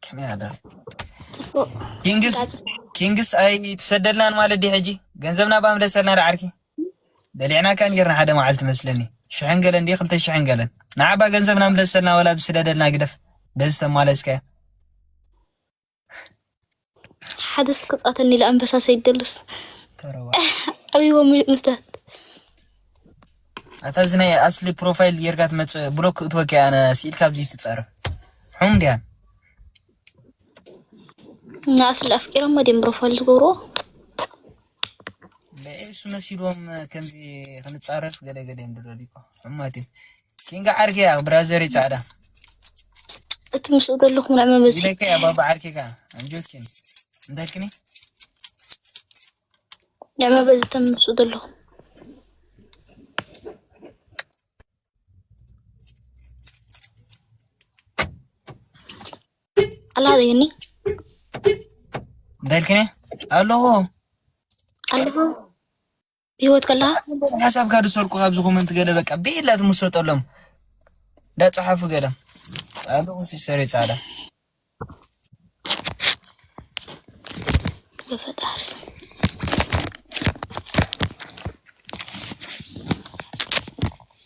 ከመይ ኣለ ኪንግስ ኪንግስ ኣይ ትሰደልናን ማለት ዲ ሕጂ ገንዘብና ብኣምለሰልና ዶ ዓርኪ በሊዕና ከ ጌርና ሓደ መዓልቲ መስለኒ ሽሕን ገለን ዲ ክልተ ሽሕን ገለን ንዓባ ገንዘብና ምለሰልና ወላ ብስደደልና ግደፍ በዚ ተማለስካያ ሓደስ ክጻተኒ ኢለ ኣንበሳ ሰይደሉስ ኣብዎ ምስታት ኣታ እዚ ናይ ኣስሊ ፕሮፋይል ጌርካ ትመጽእ ብሎክ ክትወኪ ኣነ ስኢል ካብዚ ትጸርፍ ሕም ድያ ንኣስሊ ኣፍቂሮሞ ድም ፕሮፋይል ዝገብርዎ ንሱ መሲሎም ከምዚ ክንፃረፍ ገለገለ እዮም ድሎ ዲኮ ሕማት እዩ ኪንጋ ዓርኪ እያ ብራዘሪ ፃዕዳ እቲ ምስኡ ዘለኹ ናይ መመዚ ኢለካ እያ ባባ ዓርኪ ከ ኣንጆኪን እንታልክኒ ናይ መበዚ ተም ምስኡ ዘለኹ ኣላ ዘይኒ እንታይ ኢልክኒ ኣለዎ ኣለዎ ብሂወት ከለካ ሓሳብካ ዝሰርቁ ካብዚ ኮመንት ገለ በቃ ብኢላ ትምሰጠሎም እንዳፀሓፉ ገለ ኣለዎ ሲሰሪ ፃዕዳ ብፈጣሪ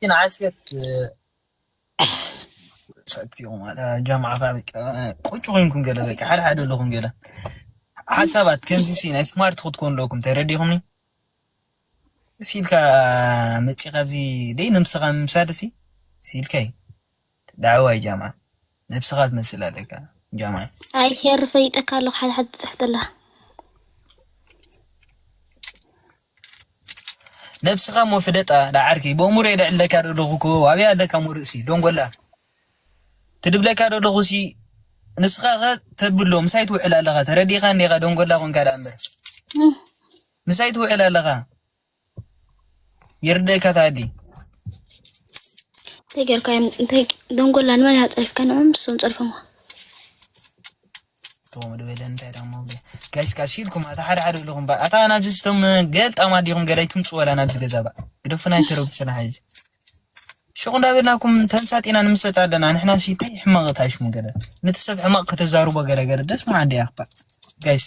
ግን ዓስከር ሰክቲኩም ጀምዓ ቁጭ ኮይንኩም ገለ በቃ ሓደ ሓደ ኣለኹም ገለ ሓሳባት ከምዚ ሲ ናይ ስማርት ክትኮኑ ኣለኩም ተረዲኹምኒ ሲልካ መፂ ካብዚ ደይ ንምስኻ ምምሳድ ሲ ሲልካይ ዳዕዋይ ጃማ ነብስኻ ትመስል ኣለካ ጃማ። ኣይ ሄሪ ፈሊጠካ ኣለኩ ሓደ ሓደ ትጽሕፍ ዘለካ። ነብስኻ እሞ ፍለጣ ዳዓርከይ ብእሙረይ ደዕለካ ደለኹ እኮ ኣበይ ኣለካ እሞ ርእሲ ዶንጎላ ትድብለካ ደለኹ ሲ ንስኻ ከ ተድብሎ ምሳይ ትውዕል ኣለኻ ተረዲእካኒ ዲኻ ደንጎላ ኮንካ ደኣ እምበር ምሳይ ትውዕል ኣለኻ ይርደካ ታዲ እንታይ ጌርካ እዮም እንታይ ደንጎላ ንመን እያ ፀሪፍካ ንዕም ንሶም ፀሪፎምዋ ተወሙ ድበለ እንታይ ዳሞ ጋይስ ካሲ ኢልኩም ኣታ ሓደ ሓደ ኢልኩም ባ ኣታ ናብዚ ስቶም ገልጣማ ዲኹም ገዳይ ትምፁ ወላ ናብዚ ገዛ ባ ግደፉና ይተረብሱና ሕዚ ሽቁ እንዳበልናኩም ተምሳጢና ንምሰጥ ኣለና ንሕና ሲ እንታይ ሕማቕ ታይሽሙ ገለ ነቲ ሰብ ሕማቕ ከተዛርቦ ገለ ገለ ደስ ምዓ እንዲ ያኽባ ጋይስ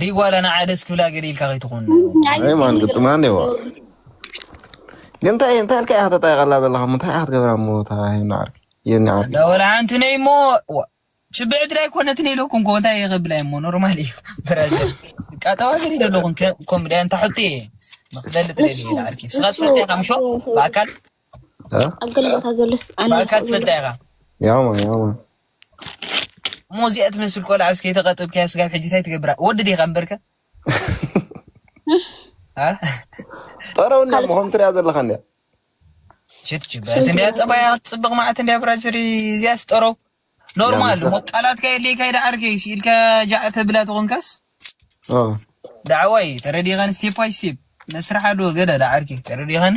ዲጓላ ንዓ ደስ ክብላ ገለ ኢልካ ከይትኾን ማን ግጥማ እኒዎ ግን እንታይ እንታይ ኢልካ ኢኻ ተጣይቐላ ዘለኻ እንታይ ኢኻ ክትገብራ እሞ እታ ሄኒ ዓርኪ የኒ ዓርኪ እንዳ ወላ ሓንቲ ነይ እሞ ችብዕ ድራይ ኮነትን ኢለኩም ኮ እንታይ ይኸብላይ እሞ ኖርማል እዩ ብራዚ ቃጠዋ ገሪ ዘለኹም ኮም ድያ እንታ ሕቶ እየ ንክፈልጥ ደሊ ዓርኪ ስኻ ትፈልጥ ኢኻ ምሾ ብኣካል ኣብ ገለ ቦታ ዘሎስ ብኣካል ትፈልጥ ኢኻ ያማ ያማ እሞ እዚኣ ትመስል ቆልዓ እስከ የተቀጥብካያ ስጋብ ሕጂ እንታይ ትገብራ ወዲ ዲኻ እምበርከ ጠረውና ምኾም ትሪያ ዘለካ እንዲያ ሽት ጅበረት እንዲያ ጠባያ ፅብቅ ማዕት እንዲያ ብራስሪ እዚያ ስጠረው ኖርማል ሞ ቃላትካ የድልየካ ይደ ዓርከ ስኢልካ ጃዕ ተብላ ተኾንካስ ዳዕዋይ ተረዲኻን ስቴፕ ባይ ስቴፕ መስርሕ ኣለዎ ገለ ዳዓርከ ተረዲኻኒ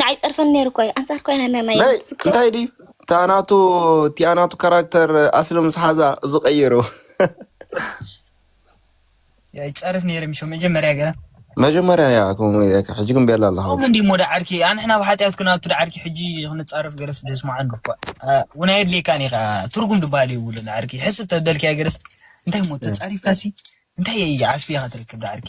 ንዓይ ፀርፈን ነይሩ እኮ እዩ ኣንፃር ኮይና ናይ እንታይ ድዩ ታናቱ ቲኣናቱ ካራክተር ኣስሊ ምስ ሓዛ እዚ ቀይሩ ይፀርፍ ነይሩ ምሾ መጀመርያ ገ መጀመርያ ያ ከምኡ ኢለካ ሕጂ ግን ቤላ ኣለኻ ከምኡ እንዲ ሞዳ ዓርኪ ኣንሕና ኣብ ሓጢኣት ክናቱ ዓርኪ ሕጂ ክንፃረፍ ገለስ ደስማዓን እኳ እውን ኣየድልየካን ኢኻ ትርጉም ድበሃል የብሉን ዓርኪ ሕስብ ተበልክያ ገለስ እንታይ ሞ ተፃሪፍካሲ እንታይ ዓስቢ ኢኻ ትረክብ ዓርኪ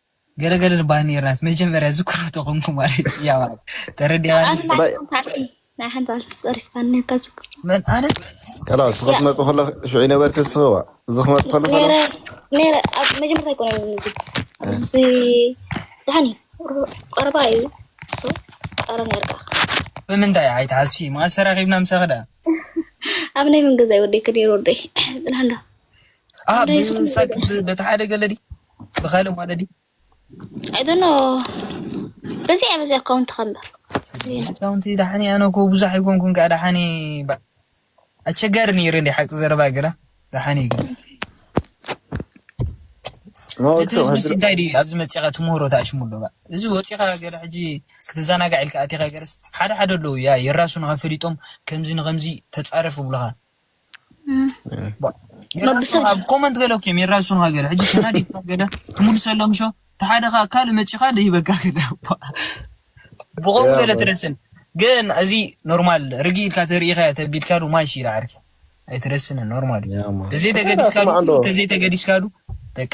ገለ ገለ ልባህ ነይርናት መጀመርያ ዝክሮ ተኾንኩ ማለት እያ ማለት ተረዲኻ መን ኣነ ከላ እሱ ክትመፅ ከሎ ሽዑ ነበርክ ዝስኸዋ እዚ ክመፅ ከሎ መጀመርታ ይኮነ እዚ ዳኒ ቀረባ እዩ ቀረ ነርካ ብምንታይ ኣይትሓስፊ መዓስ ተራኺብና ምሳኺ ደኣ ኣብ ናይ መንገዛይ ወደይ ክደይር ወደይ ፅናንዶ ብሳክ በቲ ሓደ ገለዲ ብካልእ ማለት ድዩ ኣይዶኖ በዚ ኣብ እዚ ኣካውንቲ ከምበር ኣካውንቲ ዳሓኒ ኣነ እኮ ብዙሕ ኣይኮንኩን ከዓ ዳሓኒ ኣቸጋሪ ነይሩ እንዲ ሓቂ ዘረባ ግና ዳሓኒ ግን እቲ ህዝቢ እንታይ ድዩ ኣብዚ መፂኻ ትምህሮ ተኣሽሙ ኣሎ እዚ ወፂኻ ገለ ሕጂ ክትዘናጋዕ ኢልካ ኣቲኻ ገለስ ሓደ ሓደ ኣለዉ ያ የራሱ ንኸፈሊጦም ከምዚ ንኸምዚ ተፃረፍ ብሉኻ ኮመንት ገለ ኪም የራሱን ሃገር ሕጂ ከና ዲፕ ገለ ትምልሰሎም ሾ ተሓደ ከ ካል መጪኻ ደይበካ ገለ ብቆም ገለ ትረስን ግን እዚ ኖርማል ርጊ ኢልካ ተርእኻ ተቢልካ ዱ ማሽ ኢላ ዓርኪ ኣይትረስን ኖርማል ተዘይ ተገዲስካ ተዘይ ተገዲስካ ዱ በቃ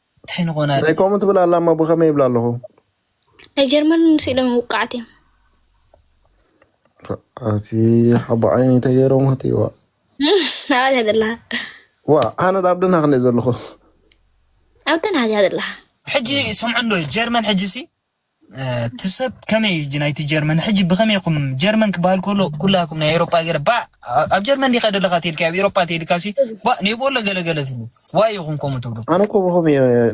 እንታይ ንኾን ኣረ ናይ ከምኡ ትብል ኣላ እሞ ብኸመይ ይብላ ኣለኹ ናይ ጀርመን ምስ ኢሎም ውቃዕት እዮም እቲ ሓቦ ዓይኒ ተገይሮም እቲ ዋ ናብኣ ትያ ዘለኻ ዋ ኣነ ዳብ ደና ክንደይ ዘለኹ ኣብተን ሃትያ ዘለኻ ሕጂ ስምዑ እንዶ ጀርመን ሕጂ ሲ ትሰብ ከመይ እጂ ናይቲ ጀርመን ሕጂ ብከመይ ኹም ጀርመን ክበሃል ከሎ ኩላኩም ናይ ኤሮፓ ገረ ባ ኣብ ጀርመን ዲካ ደለካ ተልካ ኣብ ኤሮፓ ተልካ ሲ ባ ኔቦሎ ገለገለ ትብሉ ዋይ ኢኹም ከምኡ ትብሉ ኣነ እኮ ብኸም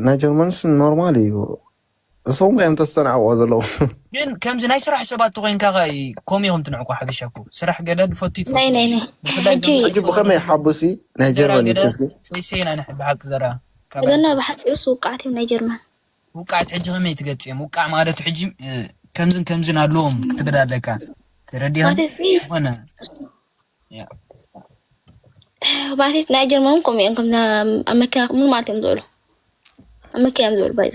ናይ ጀርመንስ ኖርማል እዩ እሶም እዮም ተስተናዕቆ ዘለዉ ግን ከምዚ ናይ ስራሕ ሰባት ተኮይንካ ከ ከምኡ ኢኹም ትንዕቁ ሓበሻ እኮ ስራሕ ገደል ፈቱ ይትፈ ናይ ናይ ናይ ብፍላይ ሕጂ ሕጂ ብኸመይ ሓቡሲ ናይ ገራ ጀርመን እዩ ገደል እስኪ ሰይሰይና ንሕቢ ሓቂ ዘራ ካብ እዘና ብሓፂሩስ ውቃዕት እዮም ናይ ጀርመን ውቃዕት ሕጂ ከመይ ትገጽም ውቃዕ ማለት ሕጂ ከምዝን ከምዝን ኣለዎም ክትብል ኣለካ ተረዲኻ ኾነ ማለት ናይ ጀርመን እውን ከምኡ እዮም ከምዛ ኣብ መኪና ምን ማለት እዮም ዝበሉ ኣብ መኪና እዮም ዝበሉ ባይ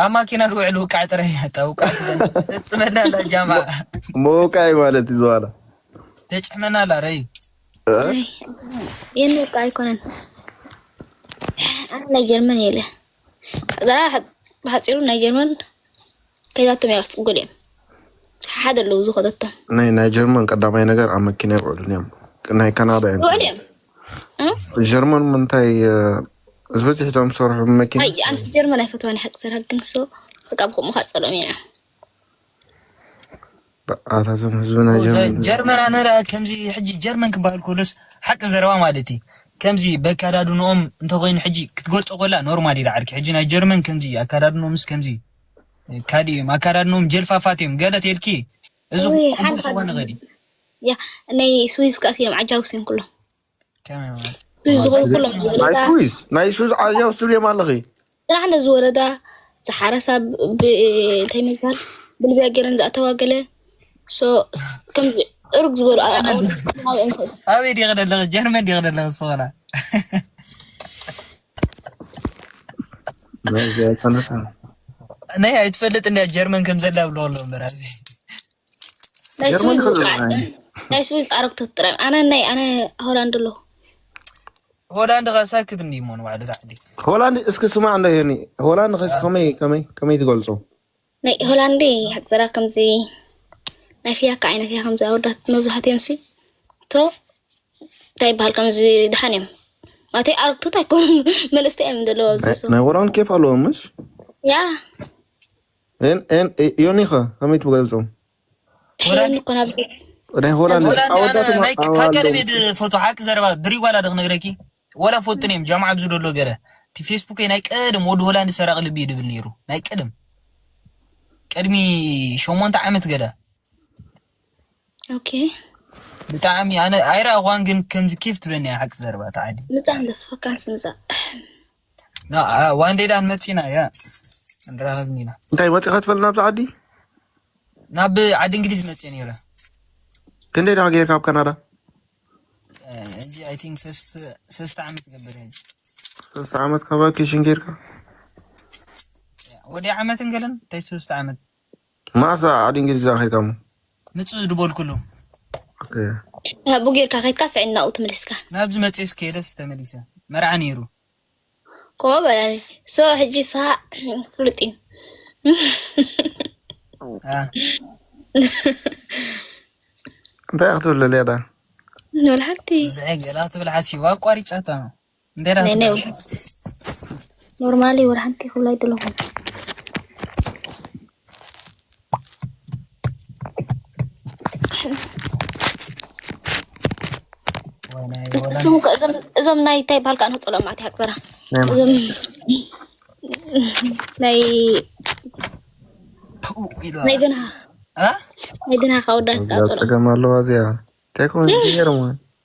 ኣብ ማኪና ዝውዕል ውቃዕ ጥረ ያጣ ውቃዕ ተፅመና ኣላ ጃማ መውቃይ ማለት እዩ ዝዋላ ተጭሕመና ኣላ ረዩ የንውቃ ኣይኮነን ኣነ ናይ ጀርመን የለ ገና ብሓፂሩ ናይ ጀርመን ከይዛቶም እያ ክትፅጉል እዮም ሓደ ኣለዉ ዝኸተቶም ናይ ናይ ጀርመን ቀዳማይ ነገር ኣብ መኪና ይውዕሉን እዮም ናይ ካናዳ እዮም ይውዕሉ እዮም ጀርመን ምንታይ ዝበዝሕቶም ዝሰርሑ መኪና ኣይ ኣንስ ጀርመን ኣይፈትዋን ሓቂ ስራሕ ግን ሶ በቃ ብከምኡ ካፀሎም ኢና ኣታቶም ህዝብና ጀርመን ኣነ ከምዚ ሕጂ ጀርመን ክበሃል ከሎስ ሓቂ ዘረባ ማለት እዩ ከምዚ በካዳድንኦም እንተኮይኑ ሕጂ ክትገልጾ ኮላ ኖርማል እዩ ዳዓርኪ ሕጂ ናይ ጀርመን ከምዚ ኣካዳድንኦምስ ከምዚ ካልእ እዮም ኣካዳድንኦም ጀልፋፋት እዮም ገለ ተልኪ እዚ ክኾነ ኸዲ ናይ ስዊዝ ከኣስ እዮም ዓጃውስ እዮም ኩሎም ናይ ሱዝ ዓያ ውስጥ ብሌም ኣለኺ ጥራሕ ነዚ ወረዳ ዝሓረሳ እንታይ ምባል ብልብያ ገይረን ዝኣተዋ ገለ ከምዚ እርግ ዝበሉ ኣበይ ዲኺ ዘለኺ ጀርመን ዲኺ ዘለኺ ዝኾና ናይ ኣይትፈልጥ እንዲያ ጀርመን ከም ዘላ ብለወሎ ምበር ናይ ስዊዝ ኣረግቶት ጥራይ ኣነ ናይ ኣነ ሆላንድ ኣሎ ሆላንድ ከሳክት እንዲ ሞን ባዕዲ ታዕዲ ሆላንድ እስኪ ስማ ኣሎ ይኒ ሆላንድ ከስ ከመይ ከመይ ከመይ ትገልጾ ናይ ሆላንድ ሓፀራ ከምዚ ናይ ፍያካ ዓይነት እያ ከምዚ ኣወዳት መብዛሕትኦም ሲ ቶ እንታይ ይበሃል ከምዚ ድሓን እዮም ማለተ ኣረግቶት ኣይኮኑ መልእስቲ እዮም ዘለዋ ናይ ሆላንድ ኬፍ ኣለዎ ምሽ ያ ዮኒኸ ከመይ ትገልፆ ቀደሜድ ፎቶ ሓቂ ዘረባ ድሪ ጓላ ዶ ክነግረኪ ወላ ፎቶ ነም ጃማዓ ብዚ ደሎ ገረ እቲ ፌስቡክ ናይ ቀደም ወዲ ሆላንድ ሰራቂ ልቢ እዩ ድብል ነይሩ ናይ ቀደም ቅድሚ ሸሞንተ ዓመት ገለ ብጣዕሚ ኣነ ኣይረኣኳን ግን ከምዚ ኬፍ ትበኒ ሓቂ ዘረባ ተዓዲ ምፃ ኣለፈካንስ ምፃ ዋንዴዳን መፂና እያ ንራኸብኒ ኢና እንታይ ወፂኻ ትፈልጥ ናብዚ ዓዲ ናብ ዓዲ እንግሊዝ መፅእ ነይረ ክንደይ ደኣ ጌርካ ኣብ ካናዳ እዚ ኣይ ቲንክ ሰስተ ዓመት ገበር ሕጂ ሰስተ ዓመት ካብ ቫኬሽን ጌርካ ወዲ ዓመት እንገለን እንታይ ሰስተ ዓመት ማእሳ ዓዲ እንግሊዝ እዛ ከይድካ እሞ ምጽኡ ድበልኩሉ ኦኬ ኣቡ ጌርካ ከይትካ ስዕል ናብኡ ተመሊስካ ናብዚ መጽስ ከይደስ ተመሊሰ መርዓ ነይሩ ኮ በላኒ ሶ ሕጂ ስኻ ፍሉጥ እዩ ኣ እንታይ ክትብል ለልያዳ ንበልሓንቲ ዝዐ ገላ ትብል ሓሲቡ ኣቋሪጻታ እንታይ ዳ ነይ ኖርማሊ ወር ሓንቲ ክብላ ይጥለኹ እሱም እዞም ናይ እንታይ በሃል ከዓ ንህፅሎ ማዕት ይሃቅዘራ እዞም ናይ ናይ ግና ናይ ግና ካወዳት ፀገም ኣለዋ እዚኣ እንታይ ኮን ገይርሞ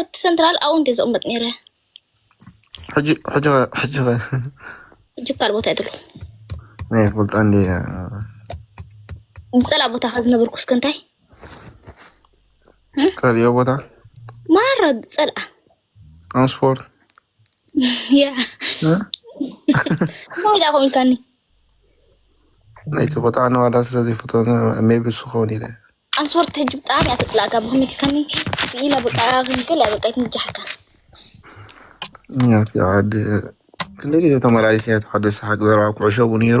እቲ ሰንትራል ኣብኡ እንዲ ዝቕመጥ ነይረ ሕጂ ሕጂ ሕጂ ሕጂ ካልእ ቦታ ይትሉ ናይ ክፈልጣ እንዲ ዝፀላ ቦታ ከ ዝነብርኩ እስከ እንታይ ፀልዮ ቦታ ማረ ዝፀልኣ ኣምስፎርድ እንታይ ዳ ኮይንካኒ ናይቲ ቆጣዕ ነዋላ ስለ ዘይፈትዎ ሜቢ እሱ ከውን ኢለ ኣንስወርት ሕጂ ብጣዕሚ እያ ተጥላእካ ብክምልካኒ ኢላ በቃ ክንክል በቃ ይትንጃሓካ ያቲ ዓዲ ክንደይ ግዜ ተመላሊሰ ያቲ ዓዲ ሰሓቅ ዘረባ ኩዕሾ ቡ ነይሩ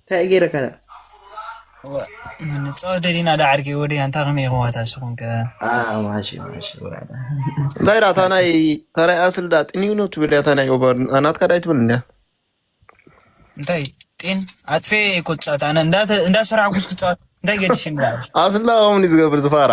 እንታይ ገይረካ ዳ ንፃወት ደሊና ዳ ዓርቂ ወደ ኣንታ ከመይ ይኸዋታ ስኹም ከ ማሺ ማሺ ወራዳ እንታይ ዳ ታናይ ታናይ ኣስል ዳ ጥኒው ነው ትብል እያ ታናይ ኦበር ናትካ ዳይ ትብል እንዳ እንታይ ጤን ኣጥፌ ኮጫት ኣነ እንዳ እንዳ ሰራዕኩስ ክፃወት እንታይ ገድሽ እንዳ ኣስላ ኦምኒ ዝገብር ዝፋራ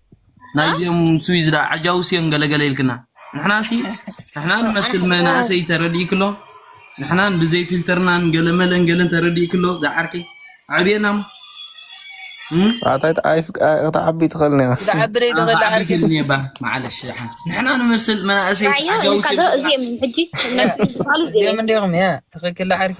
ናይዚኦም ስዊዝዳ ዓጃውስዮን ገለገለ ኢልክና ንሕናሲ ንሕና ንመስል መናእሰይ ተረድኢ ክሎ ንሕናን ብዘይ ፊልተርናን ገለመለን ገለን ተረድኢ ክሎ ዝዓርቂ ዕብየና ኣታይ ክትዓቢ ትኽእል ኒኻ ክትዓቢ ዘይትኽእል ዓርቂ ግን እባ ማዓለሽ ዝሓን ንሕና ንመስል መናእሰይ ዓጃውስዮም እዚኦም ሕጂ እዚኦም እንዲኹም ትኽክል ዓርኪ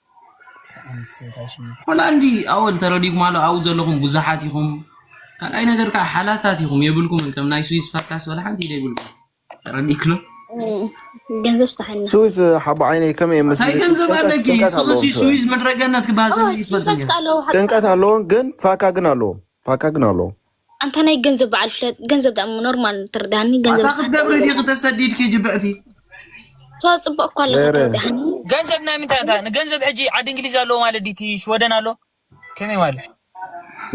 ሆላንዲ ኣወል ተረዲኩም ኣሎ ኣብኡ ዘለኹም ብዙሓት ኢኹም ካልኣይ ነገር ከዓ ሓላታት ኢኹም የብልኩምን ከም ናይ ስዊስ ፓድካስት ወላ ሓንቲ ኢደ የብልኩም ተረዲክሎ ገንዘብ ስተሃልና ስዊዝ ሓቦ ዓይነይ ከመይ እየ እንታይ መስሊ ገንዘብ ጭንቀት ኣለኪ ጭንቀት ስቕሲ ኣለዎም ስዊዝ ስዊዝ ምድረ ገነት ክበሃል ሰበይ ይፈልጥ ጭንቀት ኣለዎ ግን ፋካ ግን ኣለዎም ፋካ ግን ኣለዎም ኣንታ ናይ ገንዘብ በዓል ፍለጥ ገንዘብ ዳኣ ኖርማል ትርዳሃኒ ገንዘብ ኣታ ክትገብሪ ዲኺ ተሰዲድኪ ጅብዕቲ ሰዋ ፅቡቅ እኳ ኣለካ ትርዳሃኒ ገንዘብ ናይ ምንታይ ኣታ ንገንዘብ ሕጂ ዓዲ እንግሊዝ ኣለዎ ማለት ዲቲ ሽወደን ኣሎ ከመይ ማለት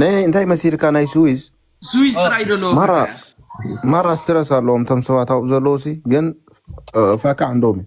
ናይ ናይ እንታይ መሲልካ ናይ ስዊዝ ስዊዝ ጥራይ ደሎ ማራ ማራ ስትረስ ኣለዎም እቶም ሰባት ኣብኡ ዘለዉ ሲ ግን እ፣ ፋካ ዕንዶም እዩ